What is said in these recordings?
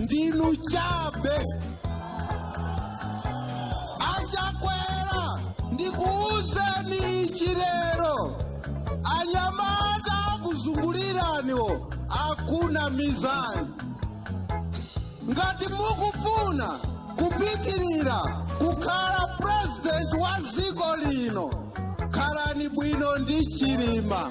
ndinu chabe achakwera ndikuuzeni ichi lero anyamata akuzunguliraniwo akunamizani ngati mukufuna kupitirira kukhala purezidenti wa dziko lino khalani bwino ndi chilima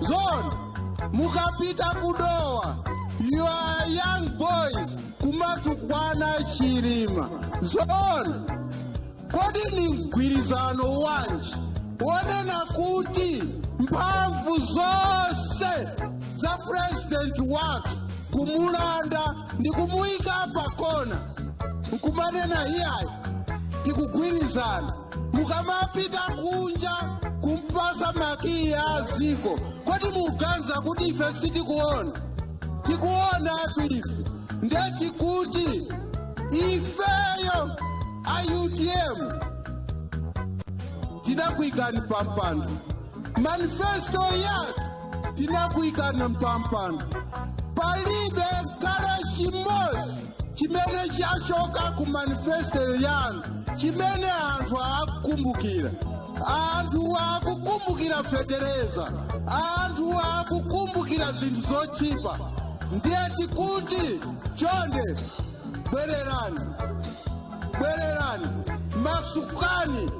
zoona mukapita kudowa you are young boys kumatukwana chilima zoona kodi ni mgwirizano wanji wonena kuti mphamvu zonse za purezidenti wathu kumulanda ndi kumuyika pakona nkumanena iyayi tikugwirizana mukamapita kunja kumpasa makiyi a dziko kodi muganiza kuti ife sitikuona tikuonatu ife nde tikuti ifeyo a utm tinakuikani pampando manifesto yathu tinakuikani pampando palibe kale chimodzi chimene chachoka ku manifesto yanu chimene anthu akukumbukira anthu akukumbukira fetereza anthu akukumbukira zinthu zotchipa ndiye tikuti chonde bwererani bwererani masukani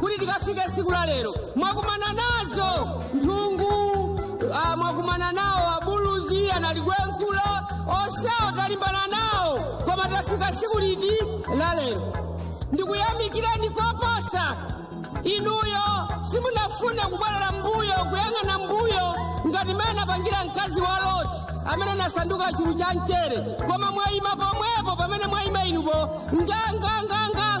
kuti tikafike tsiku la lero mwakumana nazo nthungu mwakumana nawo abuluzi analigwenkhula onsewo talimbana nawo koma tafika tsiku liti la lero ndikuyamikireni koposa inuyo simunafune kubwerera mbuyo kuyang'ana mbuyo ngati mmene anapangira mkazi wa loti amene anasanduka chulu cha mchere koma mwayima pomwepo pamene mwayima inupo nganganganga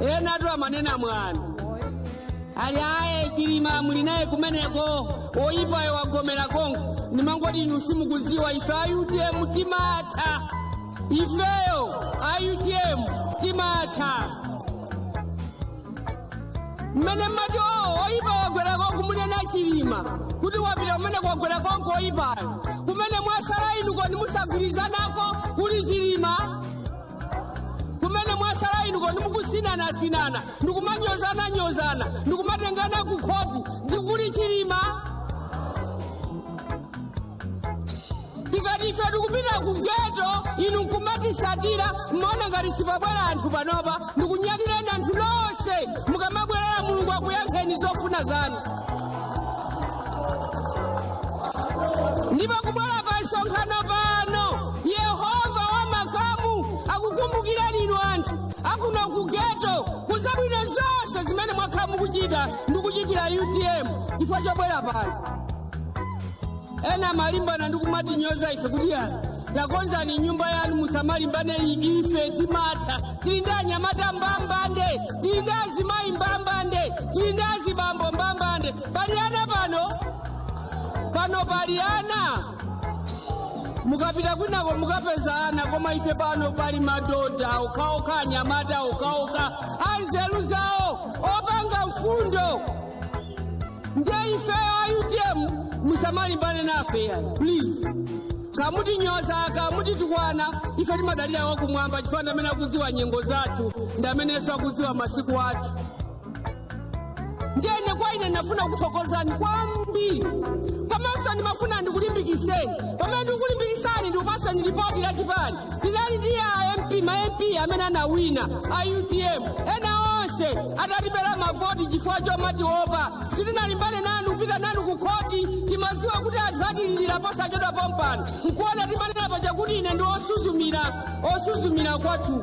enatu amanena mwana ali aye chilima muli naye kumeneko oyipayo wagomera konko ndimangoti inu simukuziwa ife a utm timatha ifeyo a utm timatha mmene mmati o oyipa wagwera konko munena chilima kuti wapita kumeneko wagwera konko oyipayo kumene mwasala inu kodi musagwirizanako kuli chilima kumene mwasala inu kodi mukusinanasinana ndikumanyozananyozana ndikumatengana ku khoti ndikuli chilima tikati ife tikupita ku geto inu nkumatisatira mmaona ngati sipabwera anthu panopa ndikunyadileni anthu nonse mukamabwerera mulungu akuyankheni zofuna zanu ndipo kubwera pa msonkhano pano yehova wa makamu akukumbukirani inu anthu akuno ku geto ku zabwino zonse zimene mwakhala mukuchita ndi kuchitira utm chifukwa chobwera pano ena amalimbana ndi kumatinyoza ife kuti ayi takonzani nyumba yanu musamalimbane ndi ife timatha tili ndi anyamata mbambande tili ndi azimayi mbambande tili ndi azibambo mbambande pali ana pano pano pali ana mukapita kwinako mukapeza ana koma ife pano pali madoda okhaokha anyamata okhaokha anzeru zawo opanga mfundo ndiye ifeyo a utm musamalimbane nafe yayi please kamutinyoza kamutitukwana ife timadalira wakumwamba chifukwa ndamene akudziwa nyengo zathu ndamenenso akudziwa masiku athu ndiyene kwa ine ndinafuna kukuthokozani kwambiri komanso ndimafuna ndikulimbikiseni pamene ndikukulimbikisani ndikupaseni lipoti la chipani tinali ndi a mp ma mp amene anawina a utm ena onse atatibera mavoti chifukwa chomatiopa sitinalimbane nanu kupita nanu ku khoti timadziwa kuti anthu atililira posachedwa pompano nkuona timanena paja kuti ine ndi osuzumira osuzumira kwathu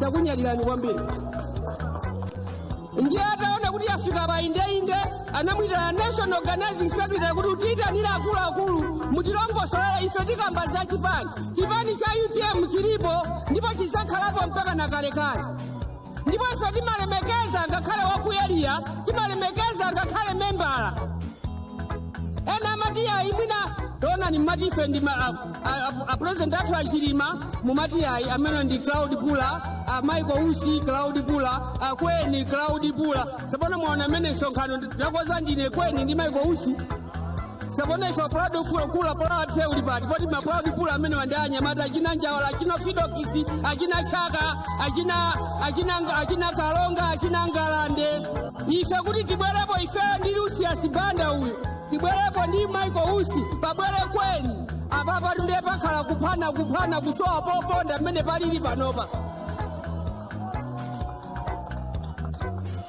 takunyadirani kwambiri ndiye ataona kuti afika pa indeinde anamwitana national organizing secretary kuti utiyitanire akuluakulu mutilongosolera ife tikamba za chipani chipani cha utm chilipo ndipo chizakhalapo mpaka na kalekale ndipo ife timalemekeza ngakhale wa ku area timalemekeza ngakhale membala ena amati ayi mwina taonani mmati ife ndi ma- apurezidenti athu achilima mumati ayi amene ndi crowd puller a michael usi crowd puller akweni crowd puller sapona mwaona amene msonkhano ndakonza ndine kweni ndi michael usi sapona ife a crowd puller crowd puller wathu uli pati poti ma crowd puller amenewa ndi anyamata achina njawala achina fredokiss achina chaka achina achina achina kalonga achina ngalande ife kuti tibwerepo ife ndi lucius banda uyu tibwerepo ndi michael usi pabwere kweni apapatu ndiye pakhala kuphana kuphana kusowa poponda mmene palili panopa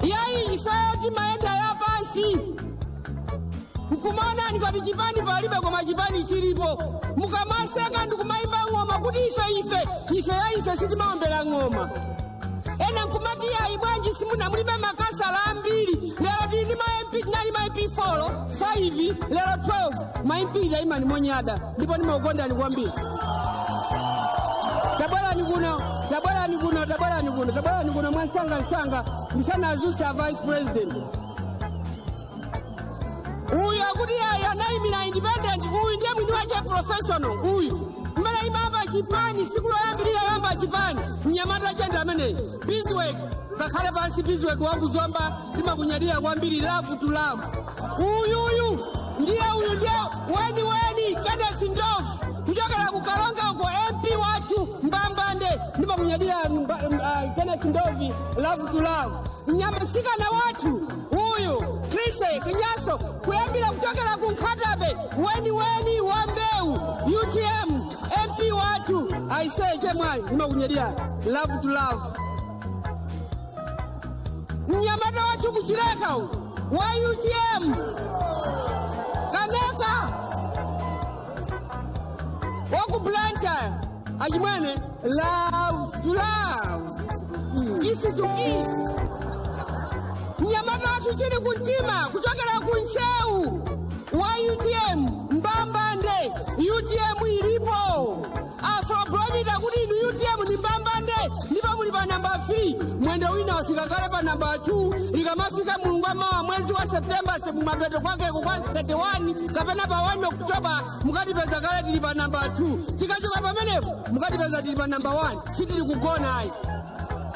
yayi ifeyo timayenda ya pansi nkumaonani ngati chipani palibe koma chipani chilipo mukamaseka ndikumayimba ng'oma kuti ife ife ife ya ife sitimaombera ng'oma ena nkumati yayi bwanji simuna mulibe makhansala ambiri lero tili ndi ma mp tinali ma mp four 5 lero 12 ma mp taimani monyada ndipo ndimakukondani kwambiri tabwerani kuno tabwerani kuno tabwerani kuno tabwerani kuno mwansangansanga ndisanadzutse a vice president uyu akuti ayi anayimira independent uyu ndiye mwini wache professional uyu mmene imayamba chipani tsiku loyambirira yamba chipani mnyamata chende ameneyi biziweki ngakhale pansi biziweki wakuzomba timakunyadira kwambiri lavu tu lavu uyuyu ndiye uyu ndiye weni weni kenneth ndofu kuchokera ku kalonga uko mp wathu mbambande ndimakunyadira mba- m- ah, kenneth ndovi lavu tu lavu mnyama mtsikana wathu uyu krise kinyaso kuyambira kuchokera ku nkhatabe weni weni wa mbewu utm MP watu aisee, chemwali nimakunyeria love to love mnyamata watu kuchileka u wa UTM kanaka waku Blantyre achimwene love to love kisi to kisi mnyamata watu chili kuntima kuchokera kuncheu wa utm mbambande utm ilipo afrobarometer kuti inu utm ni mbambande ndipo muli pa namba 3 mwendo wina wafika kale pa namba 2 likamafika mulungu wamawa mwezi wa septemba semumapeto kwakeko kwa 31 kapena pa 1 oktoba mukatipeza kale tili pa namba 2 tikachoka pamenepo mukatipeza tili pa namba 1 sitili kugona ayi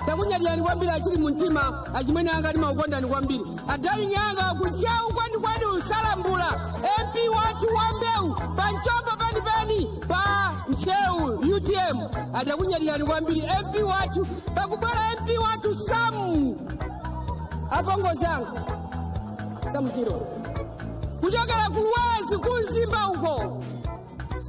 takunyadirani kwambiri achili mumtima achimwene anga ndimakukondani kwambiri adali nyanga ku ntcheu kwenikweni a salambula mp wathu wa mbewu pa mchombo penipeni pa ntcheu utm takunyadirani kwambiri mp wathu pakubwera mp wathu samu apongozi anga samu chirwa kuchokera ku luwerezi ku mzimba uko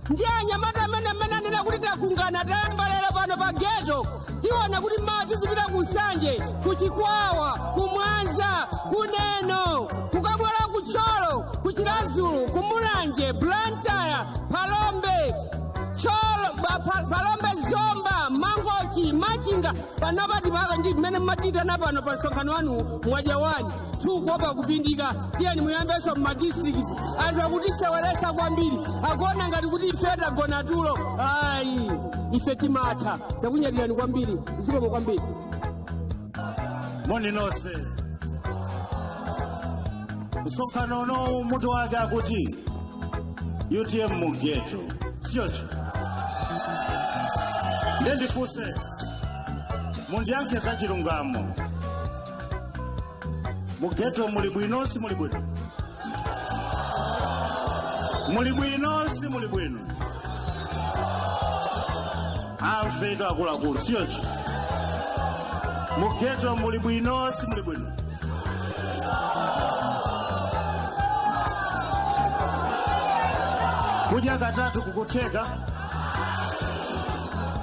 ndiye anyamata amene amene anena kuti takungana tayamba lero pano pa geto tiona kuti mawa tizipita ku nsanje ku chikwawa ku mwanza ku neno kukabwera ku thyolo ku chiradzulu ku mulanje blantyre phalombe thyolo ba- pa- phalombe zomba mangochi machinga panopa tipaka ndi mmene mmatiitana pano pa msonkhano wanu mwaja wani tikuopa kupindika tiyeni muyambenso mumadistrikiti anthu akutiseweretsa kwambiri akuona ngati kuti ife tagona tulo ayi ife timatha takunyadirani kwambiri zikomo kwambiri moni nonse msonkhano unowu mutu wake akuti utm mugeto si choncho nde ndifunse mundiyankhe za chilungamo mugeto muli bwino si muli bwino muli bwino si muli bwino amvetu akuluakulu si choncho mugeto muli bwino si muli bwino kudya katatu kukutheka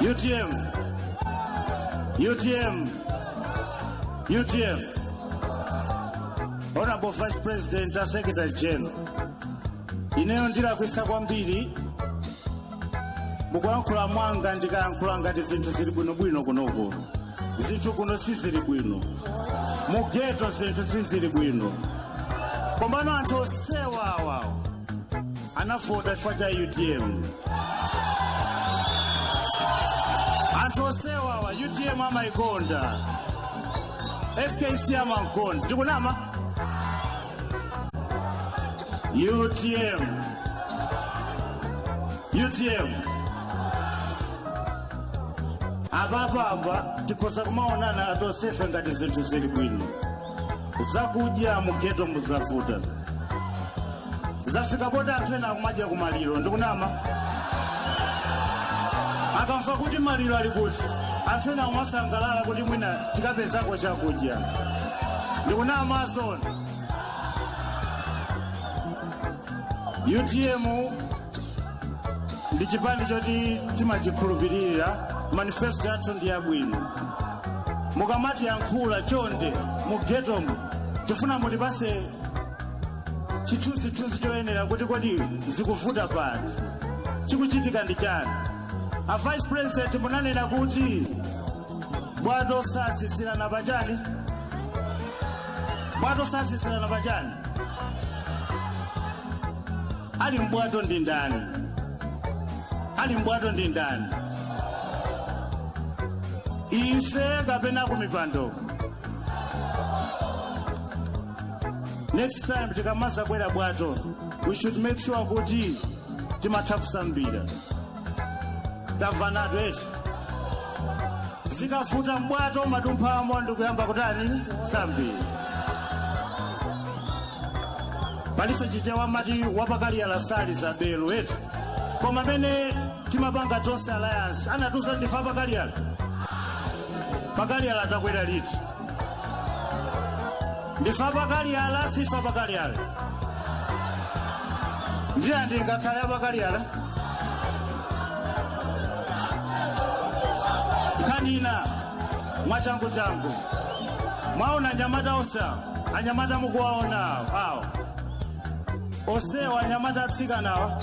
UTM. UTM. UTM. Honorable Vice President and Secretary General. Ineyo ndilakwitsa kwambiri mukuyankhula mwanga ndikayankhula ngati zinthu zili bwinobwino kunokuno zinthu kuno sizili bwino mugeto zinthu sizili bwino komano anthu osewawa anavota chifukwa cha utm anthu osewa awa utm amayikonda skc amamukonda ndikunama UTM. UTM. Ababa aba tikutha kumaonana atosefe ngati zinthu zili bwino. Zakudya mugeto mu zavuta. Zafika poti anthu ena akumadya kumaliro ndikunama. Akamva kuti maliro ali kuti anthu ena akumasangalala kuti mwina tikapezako chakudya. ndikunama zoona utm ndi chipani choti timachikhulupirira manifesto yathu ndi yabwino mukamatiyankhula chonde mugetomu tifuna mutipase chithunzithunzi choyenera kuti kodi zikuvuta pati chikuchitika ndi chani a vice president munanena kuti bwato satsitsirana pa chani bwato satsitsirana pa chani ali mbwato ndi ndani ali mbwato ndi ndani ife kapena kumipando next time tikamazakwera bwato we should make sure kuti timatha kusambira tamvanatu eti zikavuta mbwato umadumphamo ndikuyamba kutani kusambira paliso chichewa amati wapakaliyala sayimba belu eti koma pamene timapanga tonse alliance anatiuza ndife apakaliyala pakaliyala takwera liti ndife apakaliyala sife apakaliyala ndiye ndingakhale apakaliyala kanena mwachangu changu mwaona anyamata osewa anyamata mukuwaona awo osewa anyamata atsikanawa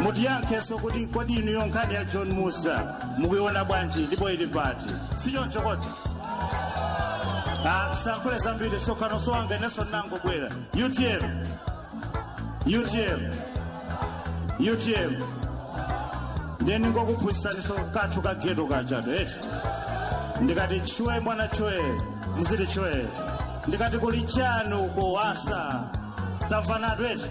mutiyankheso kuti kodi inuyo nkhani ya john musa mukuiona bwanji ndipo ili pati sichoncho kodi Ah, sindiyankhula zambiri msonkhano si wanga inenso ndinangobwera utm utm utm ndiye ndingokuphunzitsaniso kathu ka geto kathu eti ndikati chwe mwana chwe muziti chwe ndikati kuli chani uko wasa tamvanatu eti